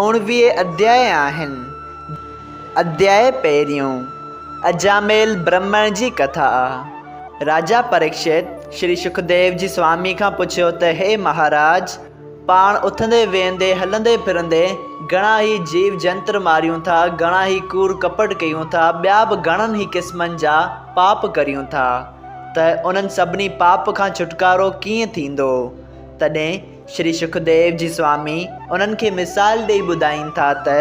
اوڻويهه اڌياء آهن. اڌياء پهريون، اجاميل برهمڻ جي ڪٿا. راجا پريڪشت شري شڪديو جي سوامي کان پڇيو ته هي مهاراج! پاڻ اٿندي ويهندي، هلندي ڦرندي گهڻا ئي جيو جنتر ماريون ٿا، گهڻا ئي ڪوڙ ڪپٽ ڪيون ٿا، ٻيا به گهڻن ئي قسمن جا پاپ ڪريون ٿا ته انهن سڀني پاپ کان ڇوٽڪارو ڪيئن ٿيندو؟ تڏهن شري سکديو جي سوامي انهن کي مثال ڏئي ٻڌائين ٿا ته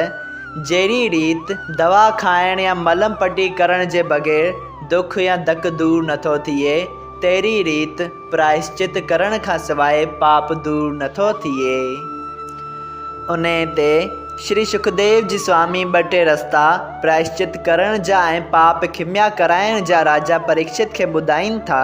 جهڙي ريت دوا کائڻ يا ملهه پٽي ڪرڻ جي بغير دک يا ڌڪ دور نٿو ٿئي تهڙي ريت پرائشچت ڪرڻ کان سواء پاپ دور نٿو ٿئي. انهي تي شري سکديو جي سوامي ٻه ٽي رستا پرائشچت ڪرڻ جا ۽ پاپ کميا ڪرائڻ جا راجا پريڪشت کي ٻڌائين ٿا.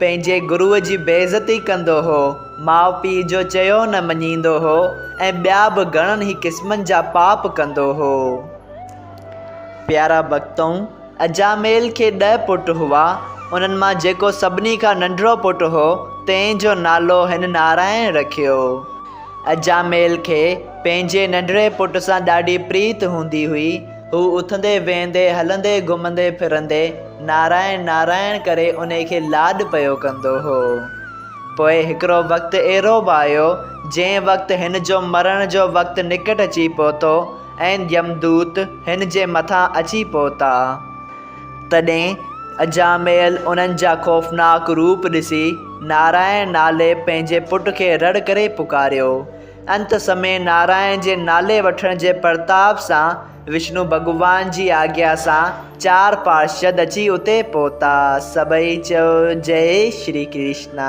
پنهنجي گروء جي بي عزتي ڪندو هو، ماء پيء جو چيو نه مڃيندو هو ۽ ٻيا به گهڻن ئي قسمن جا پاپ ڪندو هو. پيارا ڀڳتؤن، اجاميل کي ڏهه پٽ هئا، انهن مان جيڪو سڀني کان ننڍڙو پٽ هو، تنهن جو نالو هن نارائڻ رکيو. اجاميل کي پنهنجي ننڍڙي پٽ سان ڏاڍي پريت هوندي هئي. هو اٿندي ويهندي، هلندي گهمندي ڦرندي نارائڻ نارائڻ ڪري انهي کي لاڏ پيو ڪندو هو. پوء هڪڙو وقت اهڙو به آيو، جنهن وقت هن جو مرڻ جو وقت نڪٽ اچي پهتو ۽ يمدوت هن جي مٿان اچي پهتا. تڏهن اجاميل انهن جا خوفناڪ روپ ڏسي نارائڻ نالي پنهنجي پٽ کي رڙ ڪري پڪاريو. انت سمي نارائڻ جي نالي وٺڻ جي پرتاب سان وشنو ڀڳوان جي آگيا سان چار پارشد اچي اتي پهتا. سڀئي چيو جئي شري ڪرشنا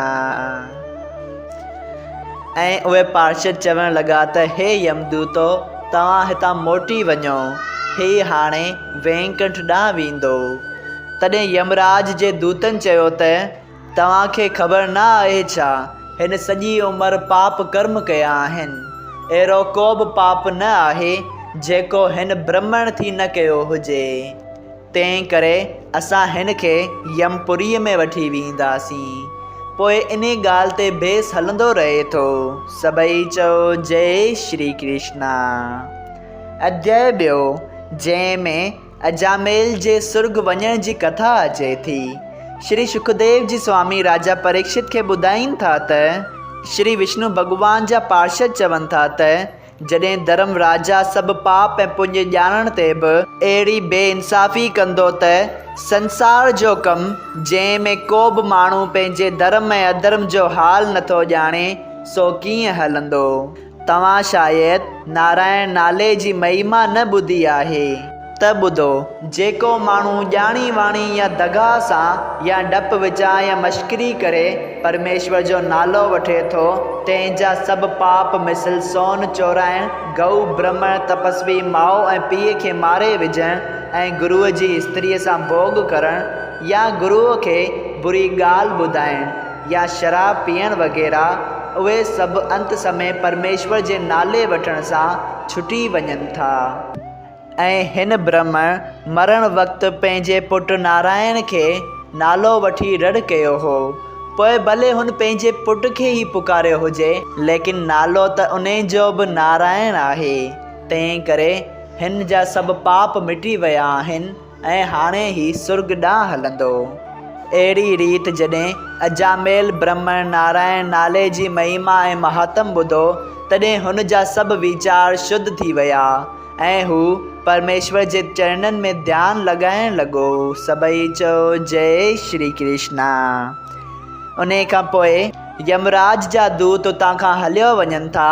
۽ اهي پارشد چوڻ لڳا ته هي يمدوتو توهان هتان موٽي وڃو هي هاڻي وينڪنٺ ڏانهن ويندو. تڏهن يمراج جي دوتن چيو ته. توهان کي خبر نه آهي ڇا؟ هن سڄي عمر پاپ ڪرم ڪيا آهن. اهڙو ڪوبه پاپ نه آهي، جيڪو هن برهمڻ ٿي نه ڪيو هجي. تنهن ڪري اسان هن کي يم پوريء ۾ وٺي ويهنداسين. پوء انهي ڳالهه تي بيس هلندو رهي ٿو. سڀئي چئو جئي شري ڪرشنا. اڌياء ٻيو، جنهن ۾ اجاميل جي سرڳ وڃڻ جي ڪٿا اچي ٿي. شري شڪديو جي سوامي راجا پريڪشت کي ٻڌائين ٿا ته، شري وشنو ڀڳوان جا پارشد چون ٿا ته، جڏهن ڌرم راجا سڀ پاپ ۽ پڃ ڄاڻڻ تي به، اهڙي بي انصافي ڪندو ته، سنسار جو ڪم، جنهن ۾ ڪو به ماڻهو پنهنجي ڌرم ۽ اڌرم جو حال نٿو ڄاڻي، سو ڪيئن هلندو؟ توهان شايد نارائڻ نالي جي مهيما نه ٻڌي آهي. ته ٻڌو، جيڪو ماڻهو ڄاڻي واڻي يا دغا سان يا ڊپ وچان يا مشڪري ڪري پرميشور جو نالو وٺي ٿو، تنهن جا سڀ پاپ مثل سون چورائڻ، گئو برهمڻ تپسوي ماء ۽ پيء کي ماري وجهڻ ۽ گروء جي استريء سان ڀوڳ ڪرڻ يا گروء کي بري ڳالهه ٻڌائڻ، يا شراب پيئڻ وغيره، اهي سڀ انت سمي پرميشور جي نالي وٺڻ سان ڇٽي وڃن ٿا. ۽ هن برهمڻ مرڻ وقت پنهنجي پٽ نارائڻ کي نالو وٺي رڙ ڪيو هو. پوء ڀلي هن پنهنجي پٽ کي ئي پڪاريو هجي، ليڪن نالو ته ان جو به نارائڻ آهي، تنهنڪري هن جا سڀ پاپ مٽي ويا آهن. ۽ هاڻي هي سرڳ ڏانهن هلندو. اهڙي ريت جڏهن اجاميل برهمڻ نارائڻ نالي جي مهيما ۽ مهاتم ٻڌو، تڏهن هن جا سڀ ويچار شڌ ٿي ويا، ۽ هو پرميشور جي چرڻن ۾ ڌيان لڳائڻ لڳو. سڀئي چئو جئه شري ڪرشنا. انهيء کان پوء يمراج جا دوت اتان کان هليو وڃن ٿا.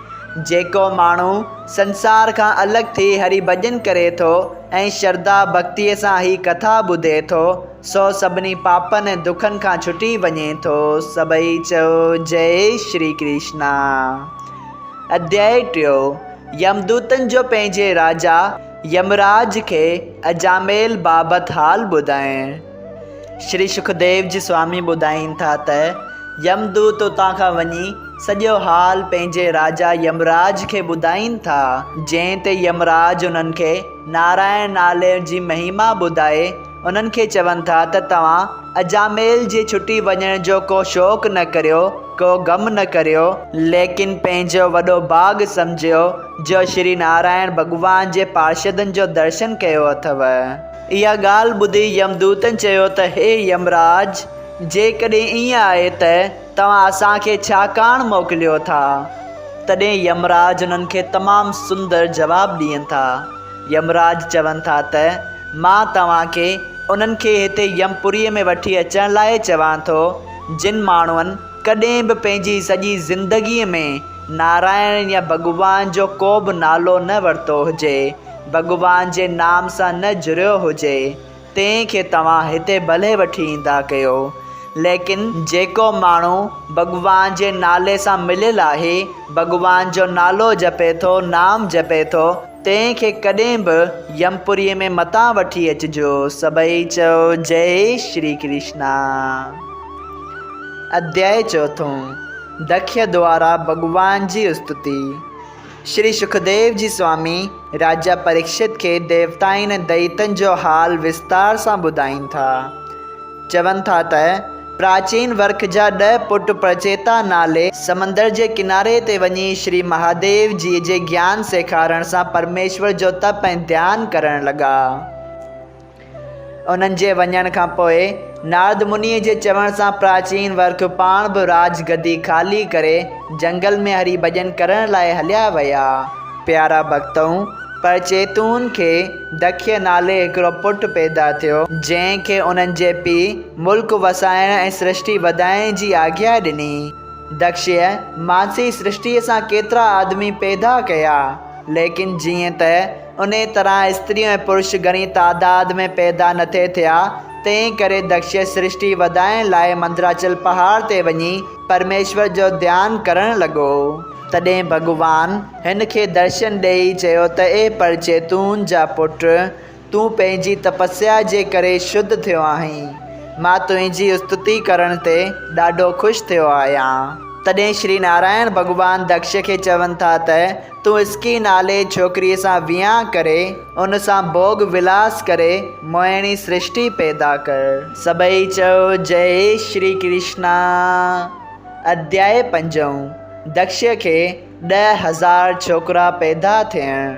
جيڪو ماڻهو سنسار کان الڳ ٿي هري ڀڄن ڪري ٿو ۽ شرڌا ڀڳتيء سان هي ڪٿا ٻڌي ٿو، سو سڀني پاپن ۽ دکن کان ڇٽي وڃي ٿو. سڀئي چئو، جئي شري ڪرشنا. اڌيائي ٽيو، يمدوتن جو پنهنجي راجا يمراج کي اجاميل بابت حال ٻڌائڻ. شري سکديو جي سوامي ٻڌائين ٿا ته، يم دوت اتان کان وڃي سڄو حال پنهنجي راجا يمراج کي ٻڌائين ٿا، جنهن تي يمراج انهن کي نارائڻ نالي جي مهيما ٻڌائي انهن کي چون ٿا ته توهان اجاميل جي ڇٽي وڃڻ جو ڪو شوق نه ڪريو، ڪو غم نه ڪريو، ليڪن پنهنجو وڏو ڀاڳ سمجهيو جو شري نارائڻ ڀڳوان جي پارشدن جو درشن ڪيو اٿئو. اها ڳالهه ٻڌي يمدوتن چيو ته هي يمراج! جيڪڏهن ائين آهي ته توهان اسان کي ڇا ڪاڻ موڪليو ٿا؟ تڏهن يمراج انهن کي تمام سندر جواب ڏين ٿا. يمراج چون ٿا ته مان توهان کي انهن کي هتي يم پوريء ۾ وٺي اچڻ لاء چوان ٿو، جن ماڻهن ڪڏهن به پنهنجي سڄي زندگيء ۾ نارائڻ يا ڀڳوان جو ڪو به نالو نه ورتو هجي. ڀڳوان جي نام سان نه جڙيو هجي، تنهن کي توهان هتي ڀلي وٺي ايندا ڪيو، ليڪن جيڪو ماڻهو ڀڳوان جي نالي سان مليل آهي، ڀڳوان جو نالو جپي ٿو، نام جپي ٿو، تنهن کي ڪڏهن به يمپوريء ۾ متان وٺي اچجو. سڀئي چئو، جئي شري ڪرشنا. اڌياء چوٿون، دکيء دوارا ڀڳوان جي استتي. شري سکديو جي سوامي راجا پريڪشت کي ديوتائن ۽ دئيتن جو حال وستار سان ٻڌائين ٿا. چون ٿا ته پراچين ورک جا ڏهه پٽ پرچيتا نالي سمندر جي ڪناري تي وڃي شري مهاديو جيء جي گيان سيکارڻ سان پرميشور جو تپ ۽ ڌيان ڪرڻ لڳا. انهن جي وڃڻ کان پوء نارد منيء جي چوڻ سان پراچين ورک پاڻ به راج گدي خالي ڪري جهنگل ۾ هري ڀڄن ڪرڻ لاء هليا ويا. پيارا ڀڳتؤ! پر چيتون کي دکيء نالي هڪڙو پٽ پيدا ٿيو، جنهن کي انهن جي پيء ملڪ وسائڻ ۽ سرشٽي وڌائڻ جي آگيا ڏني. دکشيء مانسي سرشٽيء سان ڪيترا آدمي پيدا ڪيا، ليڪن جيئن ته انهيء طرح استريون ۽ پرش گهڻي تعداد ۾ پيدا نٿي ٿيا، تنهن ڪري دڪش سرشٽي وڌائڻ لاء مندراچل پهاڙ تي وڃي پرميشور جو ڌيان ڪرڻ لڳو. تڏهن ڀڳوان هن کي درشن ڏيئي چيو ته اي پرچيتون جا پٽ، تون پنهنجي تپسيا جي ڪري شڌ ٿيو آهين. مان تنهنجي استتي ڪرڻ تي ڏاڍو خوش ٿيو آهيان. تڏهن شري نارائڻ ڀڳوان دڪش کي چون ٿا ته. تون اسڪي نالي ڇوڪريء سان ويهان ڪري، ان سان ڀوڳ ولاس ڪري، موهڻي سرشٽي پيدا ڪر. سڀئي چئو، جئي شري ڪرشنا. اڌياء پنجون، دڪشيء کي ڏهه هزار ڇوڪرا پيدا ٿيڻ.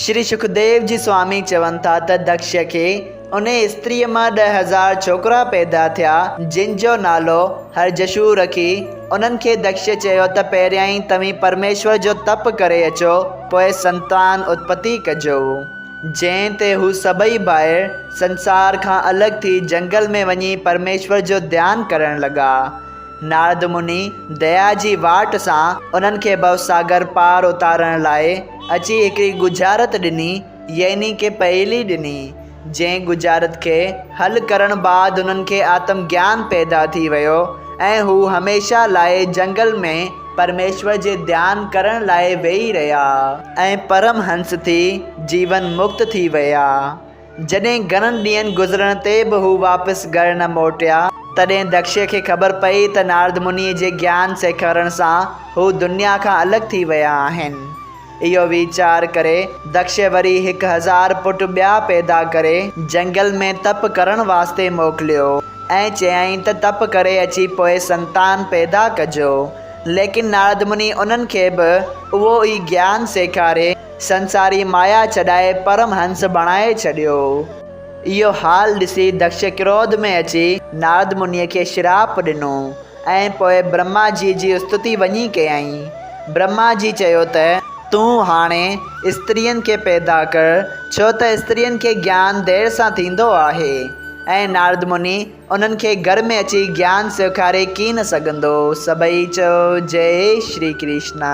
شري شڪديو جي سوامي چون ٿا ته دڪشيء کي انهيء استريء مان ڏهه هزار ڇوڪرا پيدا ٿيا، جن جو نالو هرجشو رکي، انهن کي دکش چيو ته پهريائين توهين پرميشور جو تپ ڪري اچو، پوء سنتان اتپتي ڪجو. جنهن تي هو سڀئي ڀائر سنسار کان الڳ ٿي جنگل ۾ وڃي پرميشور جو ڌيان ڪرڻ لڳا. نارد مني ديا جي واٽ سان انهن کي ڀوساگر پار اتارڻ لاء اچي هڪڙي ڳجهارت ڏني، يعني ڪي پهيلي ڏني، جنهن ڳجهارت کي حل ڪرڻ بعد هنن کي آتم گيان پيدا ٿي ويو ۽ هو هميشه لاء جهنگل ۾ پرميشور جي ڌيان ڪرڻ لاء ويهي رهيا ۽ پرم هنس ٿي جيون مڪت ٿي ويا. جڏهن گهڻن ڏينهن گذرڻ تي به هو واپس گهر نه موٽيا، تڏهن دکشي کي خبر پئي ته نارد منيء جي گيان سيکارڻ سان هو دنيا کان الڳ ٿي ويا آهن. اهو ويچار ڪري دڪشي وري هڪ هزار پٽ ٻيا پيدا ڪري جهنگل ۾ تپ ڪرڻ واسطي موڪليو ۽ چيائين ته تپ ڪري اچي پوء سنتان پيدا ڪجو. ليڪن نارد مني انهن کي به اهو ئي گيان سيکاري سنساري مايا ڇڏائي پرم هنس بڻائي ڇڏيو. اهو حال ڏسي دڪش ڪروڌ ۾ اچي نارد منيء کي شراپ ڏنو. ۽ پوء برهما جيء جي استتي وڃي ڪيائين. برهما جي چيو ته، تون هاڻي استرين کي پيدا ڪر، ڇو ته استرين کي گيان دير سان ٿيندو آهي، ۽ نارد مني انهن کي گهر ۾ اچي گيان سيکاري ڪين سگهندو. سڀئي چيو، جئي شري ڪرشنا.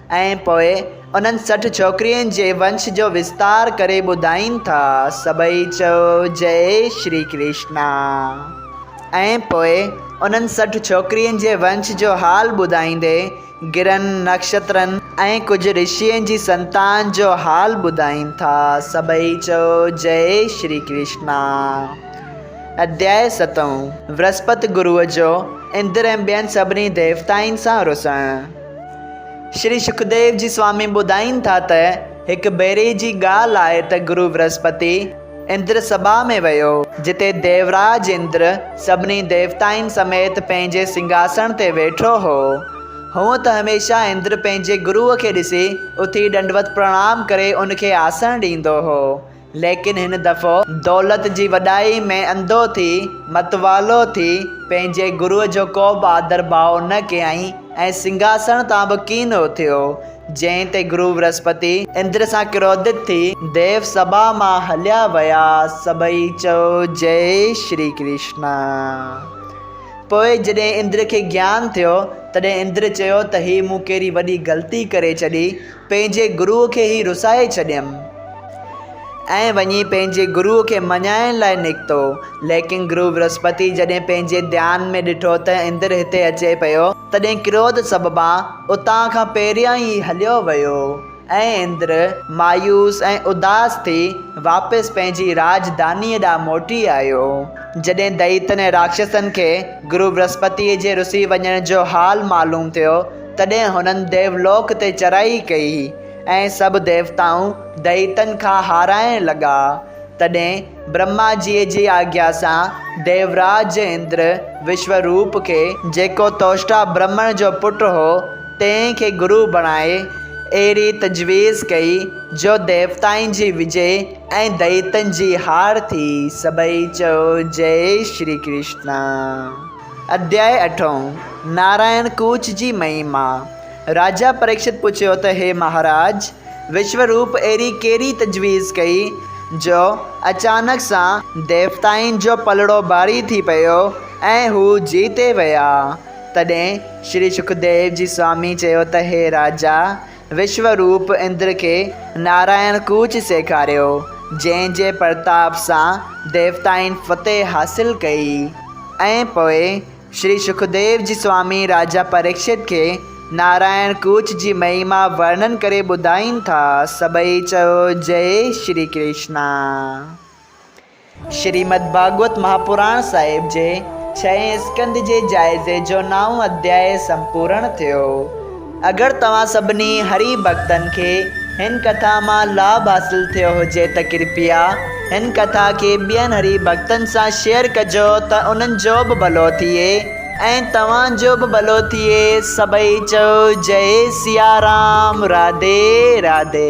۽ پوء انهن سٺ ڇوڪرين جي ونش جو وستار ڪري ٻڌائين ٿا، سڀئي چئو جئي شري ڪرشنا. ۽ پوء انهن سٺ ڇوڪرين جي ونش جو حال ٻڌائيندي گرهن، نڪشترن ۽ ڪجهه رشين جي سنتان جو حال ٻڌائين ٿا، سڀئي چئو جئي شري ڪرشنا. اڌيائي ستون. ورهسپت گروء جو اندر ۽ ٻين سڀني ديوتائن سان رسڻ. شري شڪديو جي سوامي ٻڌائين ٿا ته هڪ ڀيري جي ڳالهه آهي ته گرو ورهسپتي اندر سڀا ۾ ويو، جتي ديوراج اندر سڀني ديوتائن سميت پنهنجي سنگهاسڻ تي ويٺو هو. هونء ته هميشه اندر پنهنجي گروء کي ڏسي اٿي ڏنڊوت پرڻام ڪري ان کي آسڻ ڏيندو هو. ليڪن هن دفعو دولت جي وڏائي ۾ انڌو ٿي، متوالو ٿي، پنهنجي گروء جو ڪو به آڌر ڀاء نه ڪيائين ۽ سنگهاسڻ تان به ڪين اٿيو. جنهن تي گرو برهسپتي اندر سان ڪروڌت ٿي، ديو سڀا مان هليا ويا. سڀئي چيو جئه شري ڪرشنا. پوء جڏهن اندر کي گيان ٿيو، تڏهن اندر چيو ته هي مون ڪهڙي وڏي غلطي ڪري ڇڏي، پنهنجي گروء کي هي رسائي ڇڏيم. ۽ وڃي پنهنجي گروء کي مڃائڻ لاء نڪتو. ليڪن گرو برهسپتيء جڏهن پنهنجي ڌيان ۾ ڏٺو ته اندر هتي اچي پيو، تڏهن ڪروڌ سببان اتان کان پهريان ئي هليو ويو ۽ اندر مايوس ۽ اداس ٿي واپس پنهنجي راڄڌانيء ڏانهن موٽي آيو. جڏهن دئيتن ۽ راڪشسن کي گرو برهسپتيء جي رسي وڃڻ جو حال معلوم ٿيو، تڏهن هنن ديولوڪ تي چرائي ڪئي ۽ سڀ ديوتائون دئيتن کان هارائڻ لڳا. تڏهن برهما جيء جي آگيا سان ديوراج اندر وشوروپ کي، جيڪو توشٽا برهمڻ جو پٽ هو تنهن کي گرو بڻائي اهڙي تجويز ڪئي جو ديوتائن جي وجي ۽ دئيتن جي هار ٿي. سڀئي چيو جئي شري ڪرشنا. اڌياء اٺون، نارائڻ ڪوچ جي مهيما، راجا پريڪشت پڇيو ته هي مهاراج، وشو روپ اهڙي ڪهڙي تجويز ڪئي، جو اچانڪ سان ديوتائن جو پلڙو ڀاري ٿي پيو ۽ هو جيتي ويا؟ تڏهن شري شڪديو جي سوامي چيو ته هي راجا، وشو روپ اندر کي نارائڻ ڪوچ سيکاريو، جنهن جي پرتاپ سان ديوتائن فتح حاصل ڪئي ۽ پوء شري شڪديو جي سوامي راجا پريڪشت کي نارائڻ ڪوچ جي مهيما ورنن ڪري ٻڌائين ٿا سڀئي چئو جئي شري ڪرشنا. شريمد ڀاڳوت مهاپراڻ صاحب جي ڇهين اسڪنڌ جي جائزي جو نائون اڌياء سمپورڻ ٿيو. اگر توهان سڀني هري ڀڳتن کي هن ڪٿا مان لاڀ حاصل ٿيو هجي ته ڪرپيا هن ڪٿا کي ٻين هري ڀڳتن سان شيئر ڪجو ته انهن جو به ڀلو ٿئي ۽ توهان جو به ڀلو ٿئي سڀئي چئو جئي سيارام راڌي راڌي.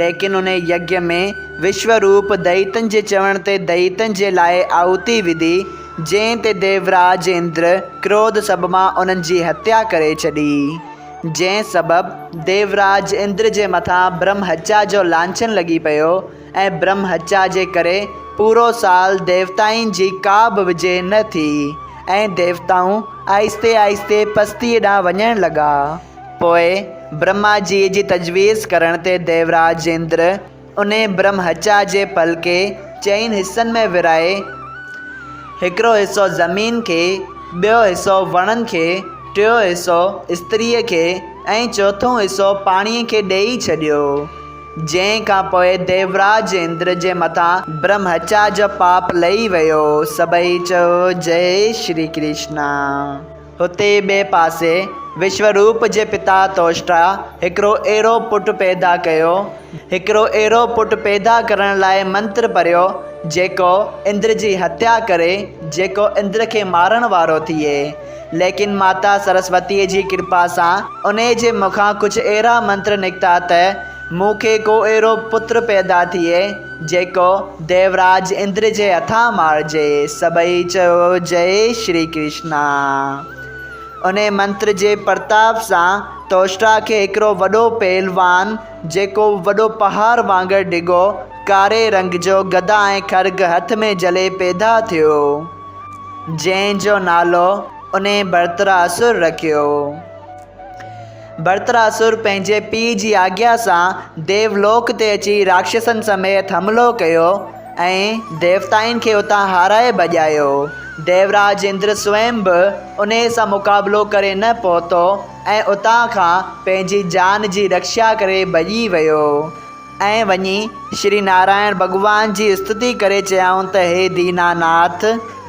ليڪن ان يگيا ۾ وشوا روپ دئيتن جي چوڻ تي دئيتن جي لاء آهوتي وڌي، جنهن تي ديوراج اندر ڪروڌ سبب مان انهن جي هتيا ڪري ڇڏي. جنهن سبب ديوراج اندر جي مٿان برهمهچا جو لانڇن لڳي پيو ۽ برهمهچا جي ڪري پورو سال ديوتائن جي ڪا به وجهه نه ٿي ۽ ديوتائون آهستي آهستي پستيء ڏانهن وڃڻ لڳا. پوء برهما جيء جي تجويز ڪرڻ تي ديوراج اندر انهي برهمهچا جي پل کي چئن حصن ۾ ورهائي، هڪڙو حصو زمين کي، ٻيو حصو وڻن کي، ٽيون حصو استريء کي ۽ چوٿون حصو پاڻيء کي ڏيئي ڇڏيو. جنهن کان پوء ديوراج اندر جي مٿان برهمهچا جو پاپ لهي ويو. سڀئي چئو، جئي شري ڪرشنا! هتي ئي ٻئي پاسي وشوروپ جي پتا توشٽا هڪڙو اهڙو پٽ پيدا ڪيو. هڪڙو اهڙو پٽ پيدا ڪرڻ لاء منتر پڙهيو، جيڪو اندر جي هتيا ڪري، جيڪو اندر کي مارڻ وارو ٿئي. ليڪن ماتا سرسوتيء جي ڪرپا سان انهيء جي مکان ڪجهه اهڙا منتر نڪتا ته مون کي ڪو اهڙو پٽ پيدا ٿئي، جيڪو ديوراج اندر جي هٿان مارجي. سڀئي چيو جئي شري ڪرشنا. انهي منتر جي پرتاپ سان توشرا کي هڪڙو وڏو پهلوان جيڪو وڏو پهاڙ وانگر ڊگهو، ڪاري رنگ جو گدا ۽ خرگ هٿ ۾ جهلي پيدا ٿيو. جنهن جو نالو انهي ڀرترا اسور رکيو. برتراسر پنهنجي پيء جي آجيا سان ديو لوڪ تي اچي راڪشسن سميت حملو ڪيو ۽ ديوتائن کي اتان هارائي ڀڄايو. ديوراج اندر سوئم به انهيء سان مقابلو ڪري نه پهتو ۽ اتان کان پنهنجي جان جي رڪشا ڪري ڀڄي ويو. ۽ وڃي شري نارائڻ ڀڳوان جي استتي ڪري چيائون ته هي دينا ناٿ!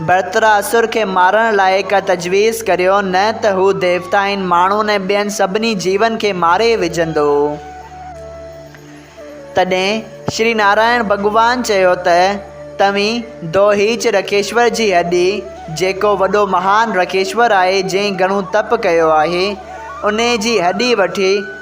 ڀرتراسر کي مارڻ لاء ڪا تجويز ڪريو، نه ته هو ديوتائن، ماڻهن ۽ ٻين سڀني جيون کي ماري وجهندو. تڏهن شري نارائڻ ڀڳوان چيو ته توهين دوهيچ رکيشور جي هڏي، جيڪو وڏو مهان رکيشور آهي، جنهن گهڻو تپ ڪيو آهي، انهيء جي هڏي وٺي،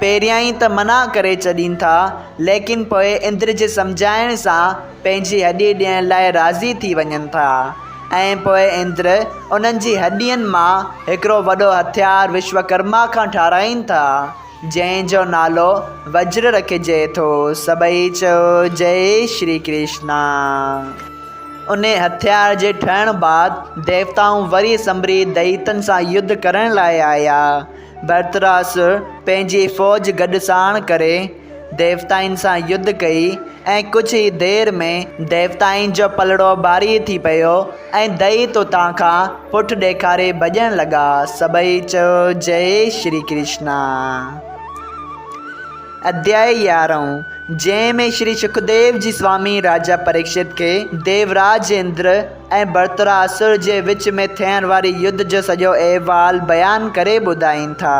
پهريائين ته منع ڪري ڇڏين ٿا، ليڪن پوء اندر جي سمجهائڻ سان پنهنجي هڏي ڏيڻ لاء راضي ٿي وڃن ٿا ۽ پوء اندر انهن جي هڏين مان هڪڙو وڏو هٿيار وشوڪرما کان ٺاهرائين ٿا، جنهن جو نالو وجر رکجي ٿو. سڀئي چئو، جئي شري ڪرشنا. انهي هٿيار جي ٺهڻ بعد ديوتائون وري سنڀري دئيتن سان يڌ ڪرڻ لاء آيا. برتراس پنهنجي فوج گڏ ساڻ ڪري ديوتائن سان يڌ ڪئي ۽ ڪجهه ئي دير ۾ ديوتائن جو پلڙو ڀاري ٿي پيو ۽ دئي توتان کان پٺ ڏيکاري ڀڄڻ لڳا سڀئي چيو جئي شري ڪرشنا. اڌيائي يارهون، جنهن ۾ شري شڪديو جي سوامي راجا پريڪشت کي ديوراج اندر، ۽ برتراسر جي وچ ۾ ٿيڻ واري يڌ جو سڄو احوال بيان ڪري ٻڌائين ٿا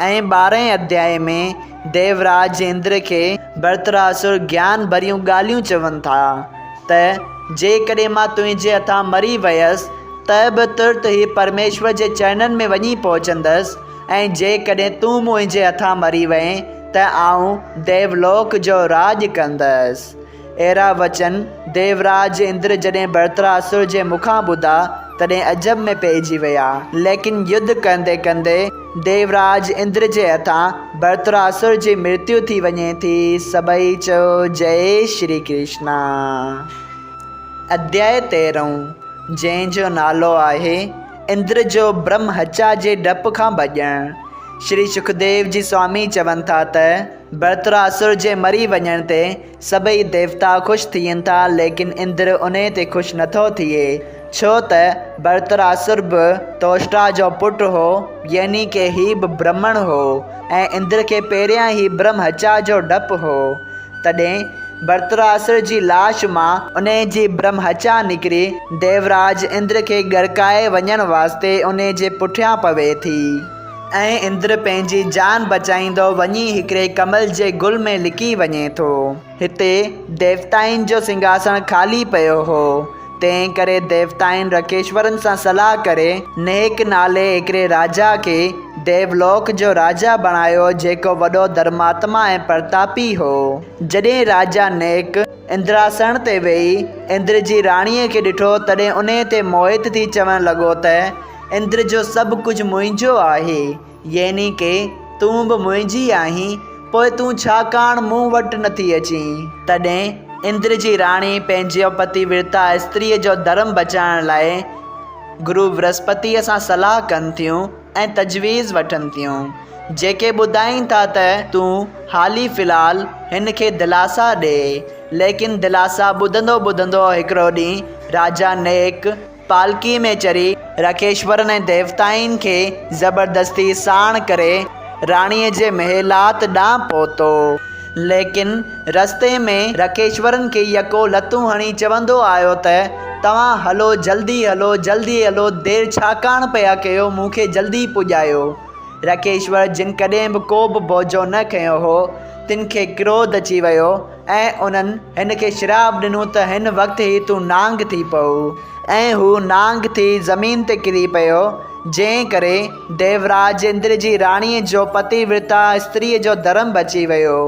۽ ٻارهين اڌيائي ۾ ديوراج اندر کي برتراسر گيان ڀريون ڳالهيون چون ٿا ته جيڪڏهن مان تنهنجي هٿان مري ويس ته به ترت ئي پرميشور جي چرنن ۾ وڃي پهچندس ۽ جيڪڏهن تون منهنجي هٿان مري وئين ته آئون ديولوڪ جو راڄ ڪندس اهڙا وچن ديوراج اندر جڏهن برتراسر جي مکان ٻڌا، تڏهن عجب ۾ پئجي ويا. ليڪن يڌ ڪندي ڪندي ديوراج اندر جي هٿان برتراسر جي مرتيو ٿي وڃي ٿي. سڀئي چيو جئي شري ڪرشنا. اڌياء تيرهون، جنهن جو نالو آهي، اندر جو برهمهچا جي ڊپ کان ڀڄڻ. شري سکديو جي سوامي چون ٿا ته. برتراسر جي مري وڃڻ تي سڀئي ديوتا خوش ٿين ٿا ليڪن اندر انهي تي خوش نٿو ٿئي ڇو ته برتراسر به توشٽا جو پٽ هو يعني ڪه هي به برهمڻ هو ۽ اندر کي پهريان ئي برهم هتيا جو ڊپ هو تڏهن برتراسر جي لاش مان انهي جي برهم هتيا نڪري ديوراج اندر کي ڳڙڪائي وڃڻ واسطي انهي جي پٺيان پوي ٿي. ۽ اندر پنهنجي جان بچائيندو وڃي هڪڙي ڪمل جي گل ۾ لڪي وڃي ٿو. هتي ديوتائن جو سنگهاسڻ خالي پيو هو، تنهن ڪري ديوتائن رڪيشورن سان صلاح ڪري نهڪ نالي هڪڙي راجا کي ديولوڪ جو راجا بڻايو جيڪو وڏو ڌرماتما ۽ پرتاپي هو. جڏهن راجا نهڪ اندراسڻ تي ويهي اندر جي راڻيء کي ڏٺو تڏهن انهي تي موهت ٿي چوڻ لڳو ته، اندر جو سڀ ڪجهه منهنجو آهي، يعني ڪي تون به منهنجي آهين، پوء تون ڇا ڪاڻ مون وٽ نٿي اچين؟ تڏهن اندر جي راڻي پنهنجي پتي ورتا استريء جو ڌرم بچائڻ لاء گرو برهسپتيء سان صلاح ڪن ٿيون ۽ تجويز وٺن ٿيون، جيڪي ٻڌائين ٿا ته تون حالي في الحال هن کي دلاسا ڏي، ليڪن دلاسا ٻڌندو ٻڌندو هڪڙو ڏينهن راجا نيڪ، پالڪيء ۾ چري، راڪيشورن ۽ ديوتائن کي زبردستيء ساڻ ڪري، راڻيء جي محلات ڏانهن پهتو. ليڪن رستي ۾ راڪيشورن کي يڪو لتون هڻي چوندو آيو ته، توهان هلو، جلدي هلو، جلدي هلو، دير ڇاڪاڻ پيا ڪيو، مون کي جلدي پڄايو. راڪيشور جن ڪڏهن به ڪو به بوجهو نه کنيو هو، تن کي ڪروڌ اچي ويو، ۽ انهن هن کي شراب ڏنو ته هن وقت ئي تون نانگ ٿي پئو. ۽ هو نانگ ٿي زمين تي ڪري پيو، جنهن ڪري ديوراج اندر جي راڻيء جو پتي ورتا استريء جو ڌرم بچي ويو.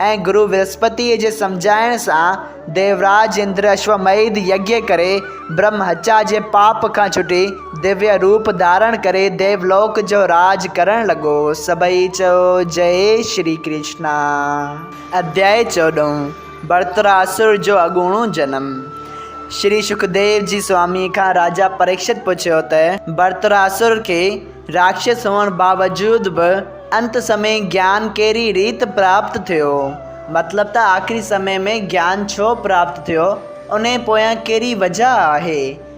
۽ گرو ورهسپتيء جي سمجهائڻ سان ديوراج اندر اشوميڌ يگيء ڪري برهم هتيا جي پاپ کان ڇٽي ديويه روپ ڌارڻ ڪري ديولوڪ جو راڄ ڪرڻ لڳو. سڀئي چئو جئي شري ڪرشنا. اڌيائي چوڏهون، ورتراسر جو اڳوڻو جنم، شري شڪديو جي سوامي کان راجا پريڪشت پڇيو ته ورتراسر کي راڪشس هئڻ باوجود به انت سمي گيان ڪهڙي ريت پراپت ٿيو؟ مطلب ته آخري سمي ۾ گيان ڇو پراپت ٿيو؟ انهي پويان ڪهڙي وجهه آهي؟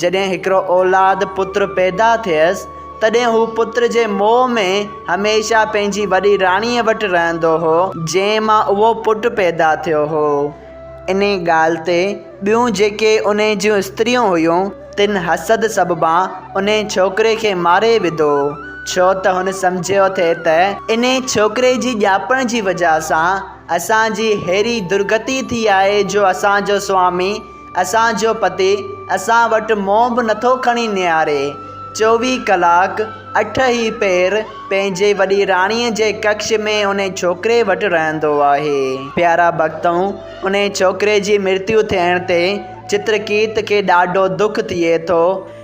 جڏهن هڪڙو اولاد، پت، پيدا ٿيس، تڏهن هو پت جي موهه ۾ هميشه پنهنجي وڏي راڻيء وٽ رهندو هو، جنهن مان اهو پٽ پيدا ٿيو هو. انهيء ڳالهه تي ٻيون جيڪي انهيء جون استريون هيون، تن حسد سببان انهيء ڇوڪري کي ماري وڌو، ڇو ته هن سمجهيو ٿي ته انهيء ڇوڪري جي ڄاپڻ جي وجهه سان اسان جي ههڙي درگتي ٿي آهي جو اسان جو سوامي، اسان جو پتي اسان وٽ منهن به نٿو کڻي نهاري. چوويهه ڪلاڪ اٺ هي پير پنهنجي وڏي راڻيء جي ڪکش ۾ انهي ڇوڪري وٽ رهندو آهي. پيارا ڀڳتؤ، انهي ڇوڪري جي مرتيو ٿيڻ تي چترڪيت کي ڏاڍو دک ٿئي ٿو.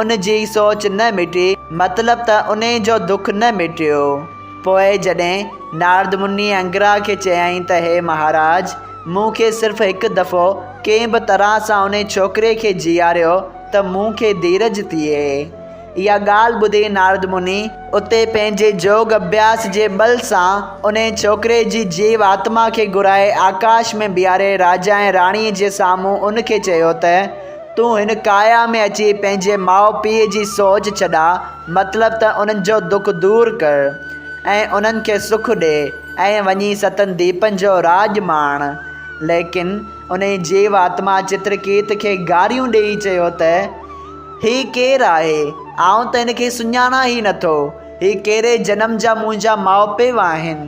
ان جي سوچ نه مٽي، مطلب ته انهي جو دک نه مٽيو. پوء جڏهن نارد مني انگرا کي چيائين ته هي مهاراج! مون کي صرف هڪ دفعو ڪنهن به طرح سان انهي ڇوڪري کي جيئاريو ته مون کي ڌيرج ٿئي. اها ڳالهه ٻڌي نارد مني اتي پنهنجي جوڳ اڀياس جي ٻل سان انهي ڇوڪري جي جيو آتما کي گهرائي آڪاش ۾ بيهاري راجا ۽ راڻي جي سامهون ان کي چيو ته، تون هن ڪايا ۾ اچي پنهنجي ماء پيء جي سوچ ڇڏاء، مطلب ته انهن جو دک دور ڪر ۽ انهن کي سک ڏي ۽ وڃي ستن ديپن جو راڄ ماڻ. ليڪن انهيء جيو آتما چترڪيت کي گاريون ڏيئي چيو ته، هي ڪير آهي؟ آئون ته هن کي سڃاڻان ئي نٿو. هي ڪهڙي جنم جا منهنجا ماء پيء آهن؟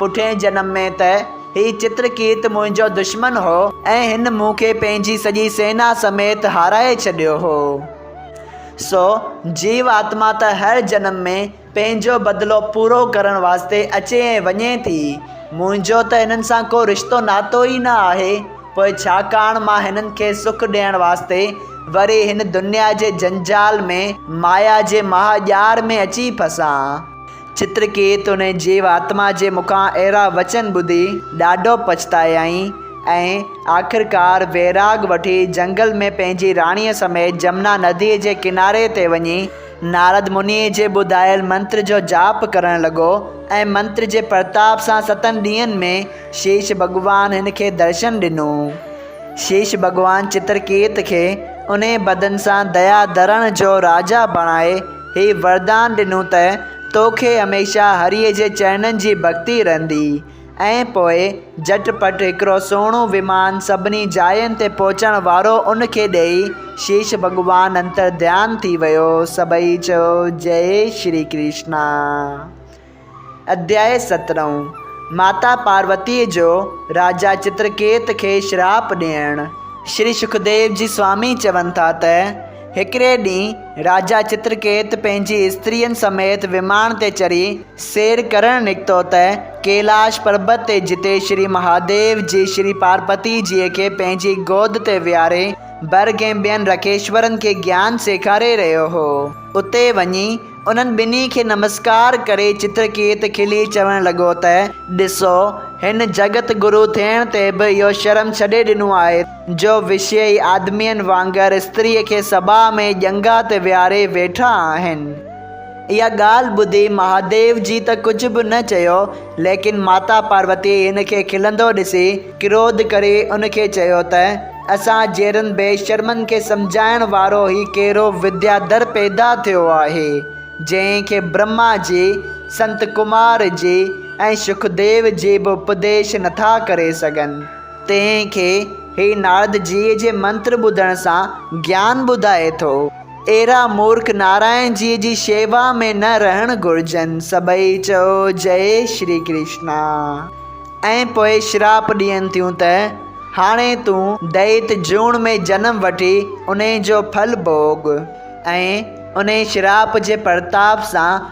پٺئين جنم ۾ ته هي چترڪيت منهنجو دشمن هو ۽ هن مون کي پنهنجي سڄي سينا سميت هارائي ڇڏيو هو. سو جيو آتما ته هر جنم ۾ پنهنجو بدلو پورو ڪرڻ واسطي اچي ۽ وڃي ٿي. منهنجو ته هنن سان ڪو رشتو ناتو ئي نه آهي. پوء ڇاڪاڻ مان هنن کي سک ڏيڻ واسطي وري هن دنيا جي جنجال ۾ مايا جي مها ڄار ۾ اچي ڦسان. چترڪيت ان جيو آتما جي مکان اهڙا وچن ٻڌي ڏاڍو پڇتايائين ۽ آخرڪار ويراڳ وٺي جهنگل ۾ پنهنجي راڻيء سميت جمنا نديء جي ڪناري تي وڃي نارد منيء جي ٻڌايل منتر جو جاپ ڪرڻ لڳو ۽ منتر جي پرتاپ سان ستن ڏينهن ۾ شيش ڀڳوان هن کي درشن ڏنو. شيش ڀڳوان چترڪيت کي انهيء بدن سان ديا ڌرڻ جو راجا بڻائي هي وردان ڏنو ته توکي هميشه هريء جي چرنن جي ڀڳتي رهندي. ۽ پوء جهٽ پٽ هڪڙو سهڻو ويمان سڀني جاين تي پهچڻ وارو ان کي ڏيئي شيش ڀڳوان انتر ڌيان ٿي ويو. سڀئي چيو جئي شري ڪرشنا. اڌياء سترهون، ماتا پاروتيء جو راجا چترڪيت کي شراپ ڏيڻ. شري شڪديو جي سوامي چون ٿا ته، هڪڙي ڏينهن راجا چترڪيت پنهنجي استرين سميت وماڻ تي چڙهي سير ڪرڻ نڪتو ته ڪيلاش پربت تي جتي شري مهاديو جي شري پارپتي جيء کي پنهنجي گود تي ويهاري برگ ۽ ٻين رکيشورن کي گيان سيکاري رهيو هو اتي وڃي انهن ٻنهي کي نمسڪار ڪري چترڪيت کلي چوڻ لڳو ته، ڏسو، هن جڳت گرو ٿيڻ تي به اهو شرم ڇڏي ڏنو آهي، جو وشيئي آدمين وانگر استريء کي سڀاء ۾ ڄنگهه تي ويهاري ويٺا آهن. اها ڳالهه ٻڌي مهاديو جي ته ڪجهه به نه چيو، ليڪن ماتا پاروتيء هن کي کلندو ڏسي ڪروڌ ڪري ان کي چيو ته، اسان جهڙن بي شرمن کي سمجهائڻ وارو هي ڪهڙو ودياڌر پيدا ٿيو آهي، جنهن کي برهما جي، سنت ڪمار جي ۽ شڪديو جي به اپديش نٿا ڪري سگهن. تنهن کي هي نارد جيء جي منتر ٻڌڻ سان گيان ٻڌائي ٿو. اهڙا مورک نارائڻ جيء جي شيوا ۾ نه رهڻ گهرجن. سڀئي چئو جئي شري ڪرشنا ۽ پوء شراپ ڏين ٿيون ته، هاڻي تون دئيت جوڻ ۾ جنم وٺي انهي جو ڦل ڀوڳ ۽ انهي شراپ جي پرتاپ سان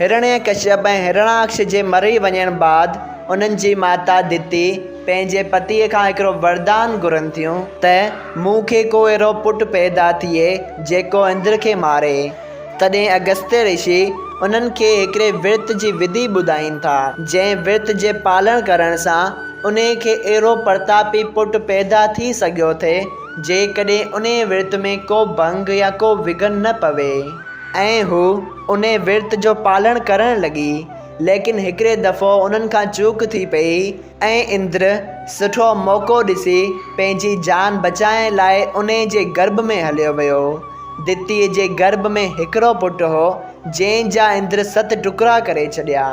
هرڻيڪشيپ ۽ هرڻاڪش جي مري وڃڻ بعد انهن جي ماتا دتي پنهنجي پتيء کان هڪڙو وردان گهرن ٿيون ته مون کي ڪو اهڙو پٽ پيدا ٿئي جيڪو اندر کي ماري. تڏهن اگستيه رشي انهن کي هڪڙي ورت جي وڌي ٻڌائين ٿا جنهن ورت جي پالڻ ڪرڻ سان انهي کي اهڙو پرتاپي پٽ پيدا ٿي سگهيو ٿي جيڪڏهن انهي ورت ۾ ڪو ڀنگ يا ڪو وگهن نه پوي. ۽ هوء انهي ورت جو پالڻ ڪرڻ لڳي، ليڪن هڪڙي دفعو انهن کان چوڪ ٿي پئي ۽ اندر سٺو موقعو ڏسي پنهنجي جان بچائڻ لاء انهي جي گرڀ ۾ هليو ويو. دتيء جي گرڀ ۾ هڪڙو پٽ هو، جنهن جا اندر ست ٽڪرا ڪري ڇڏيا.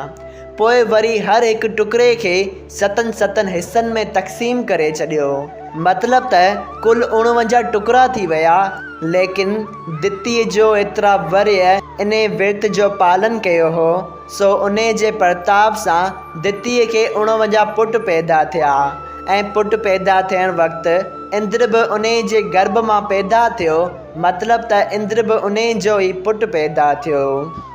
پوء وري هر هڪ ٽڪري کي ستن ستن حصن ۾ تقسيم ڪري ڇڏيو. مطلب ته ڪل اڻونجاهه ٽڪرا ٿي ويا. ليڪن دتيء جو ايترا ورهيه انهي ورت جو پالن ڪيو هو، سو انهي جي پرتاپ سان دتيء کي اڻونجاهه پٽ پيدا ٿيا ۽ پٽ پيدا ٿيڻ وقت اندر به انهي جي گرڀ مان پيدا ٿيو، مطلب ته اندر به انهي جو ئي پٽ پيدا ٿيو.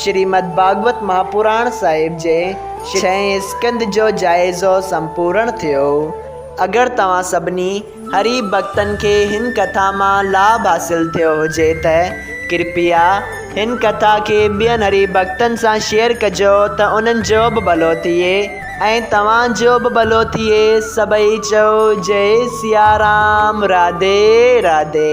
شريمد ڀاڳوت مهاپراڻ صاحب جي ڇهين اسڪند جو جائزو سمپورڻ ٿيو. اگر توهان سڀني هري ڀڳتن کي هن ڪٿا مان لاڀ حاصل ٿيو هجي ته ڪرپيا هن ڪٿا کي ٻين هري ڀڳتن سان شيئر ڪجو ته انهن جو به ڀلو ٿئي ۽ توهان جو به ڀلو ٿئي سڀئي چئو جئي سيارام راڌي راڌي.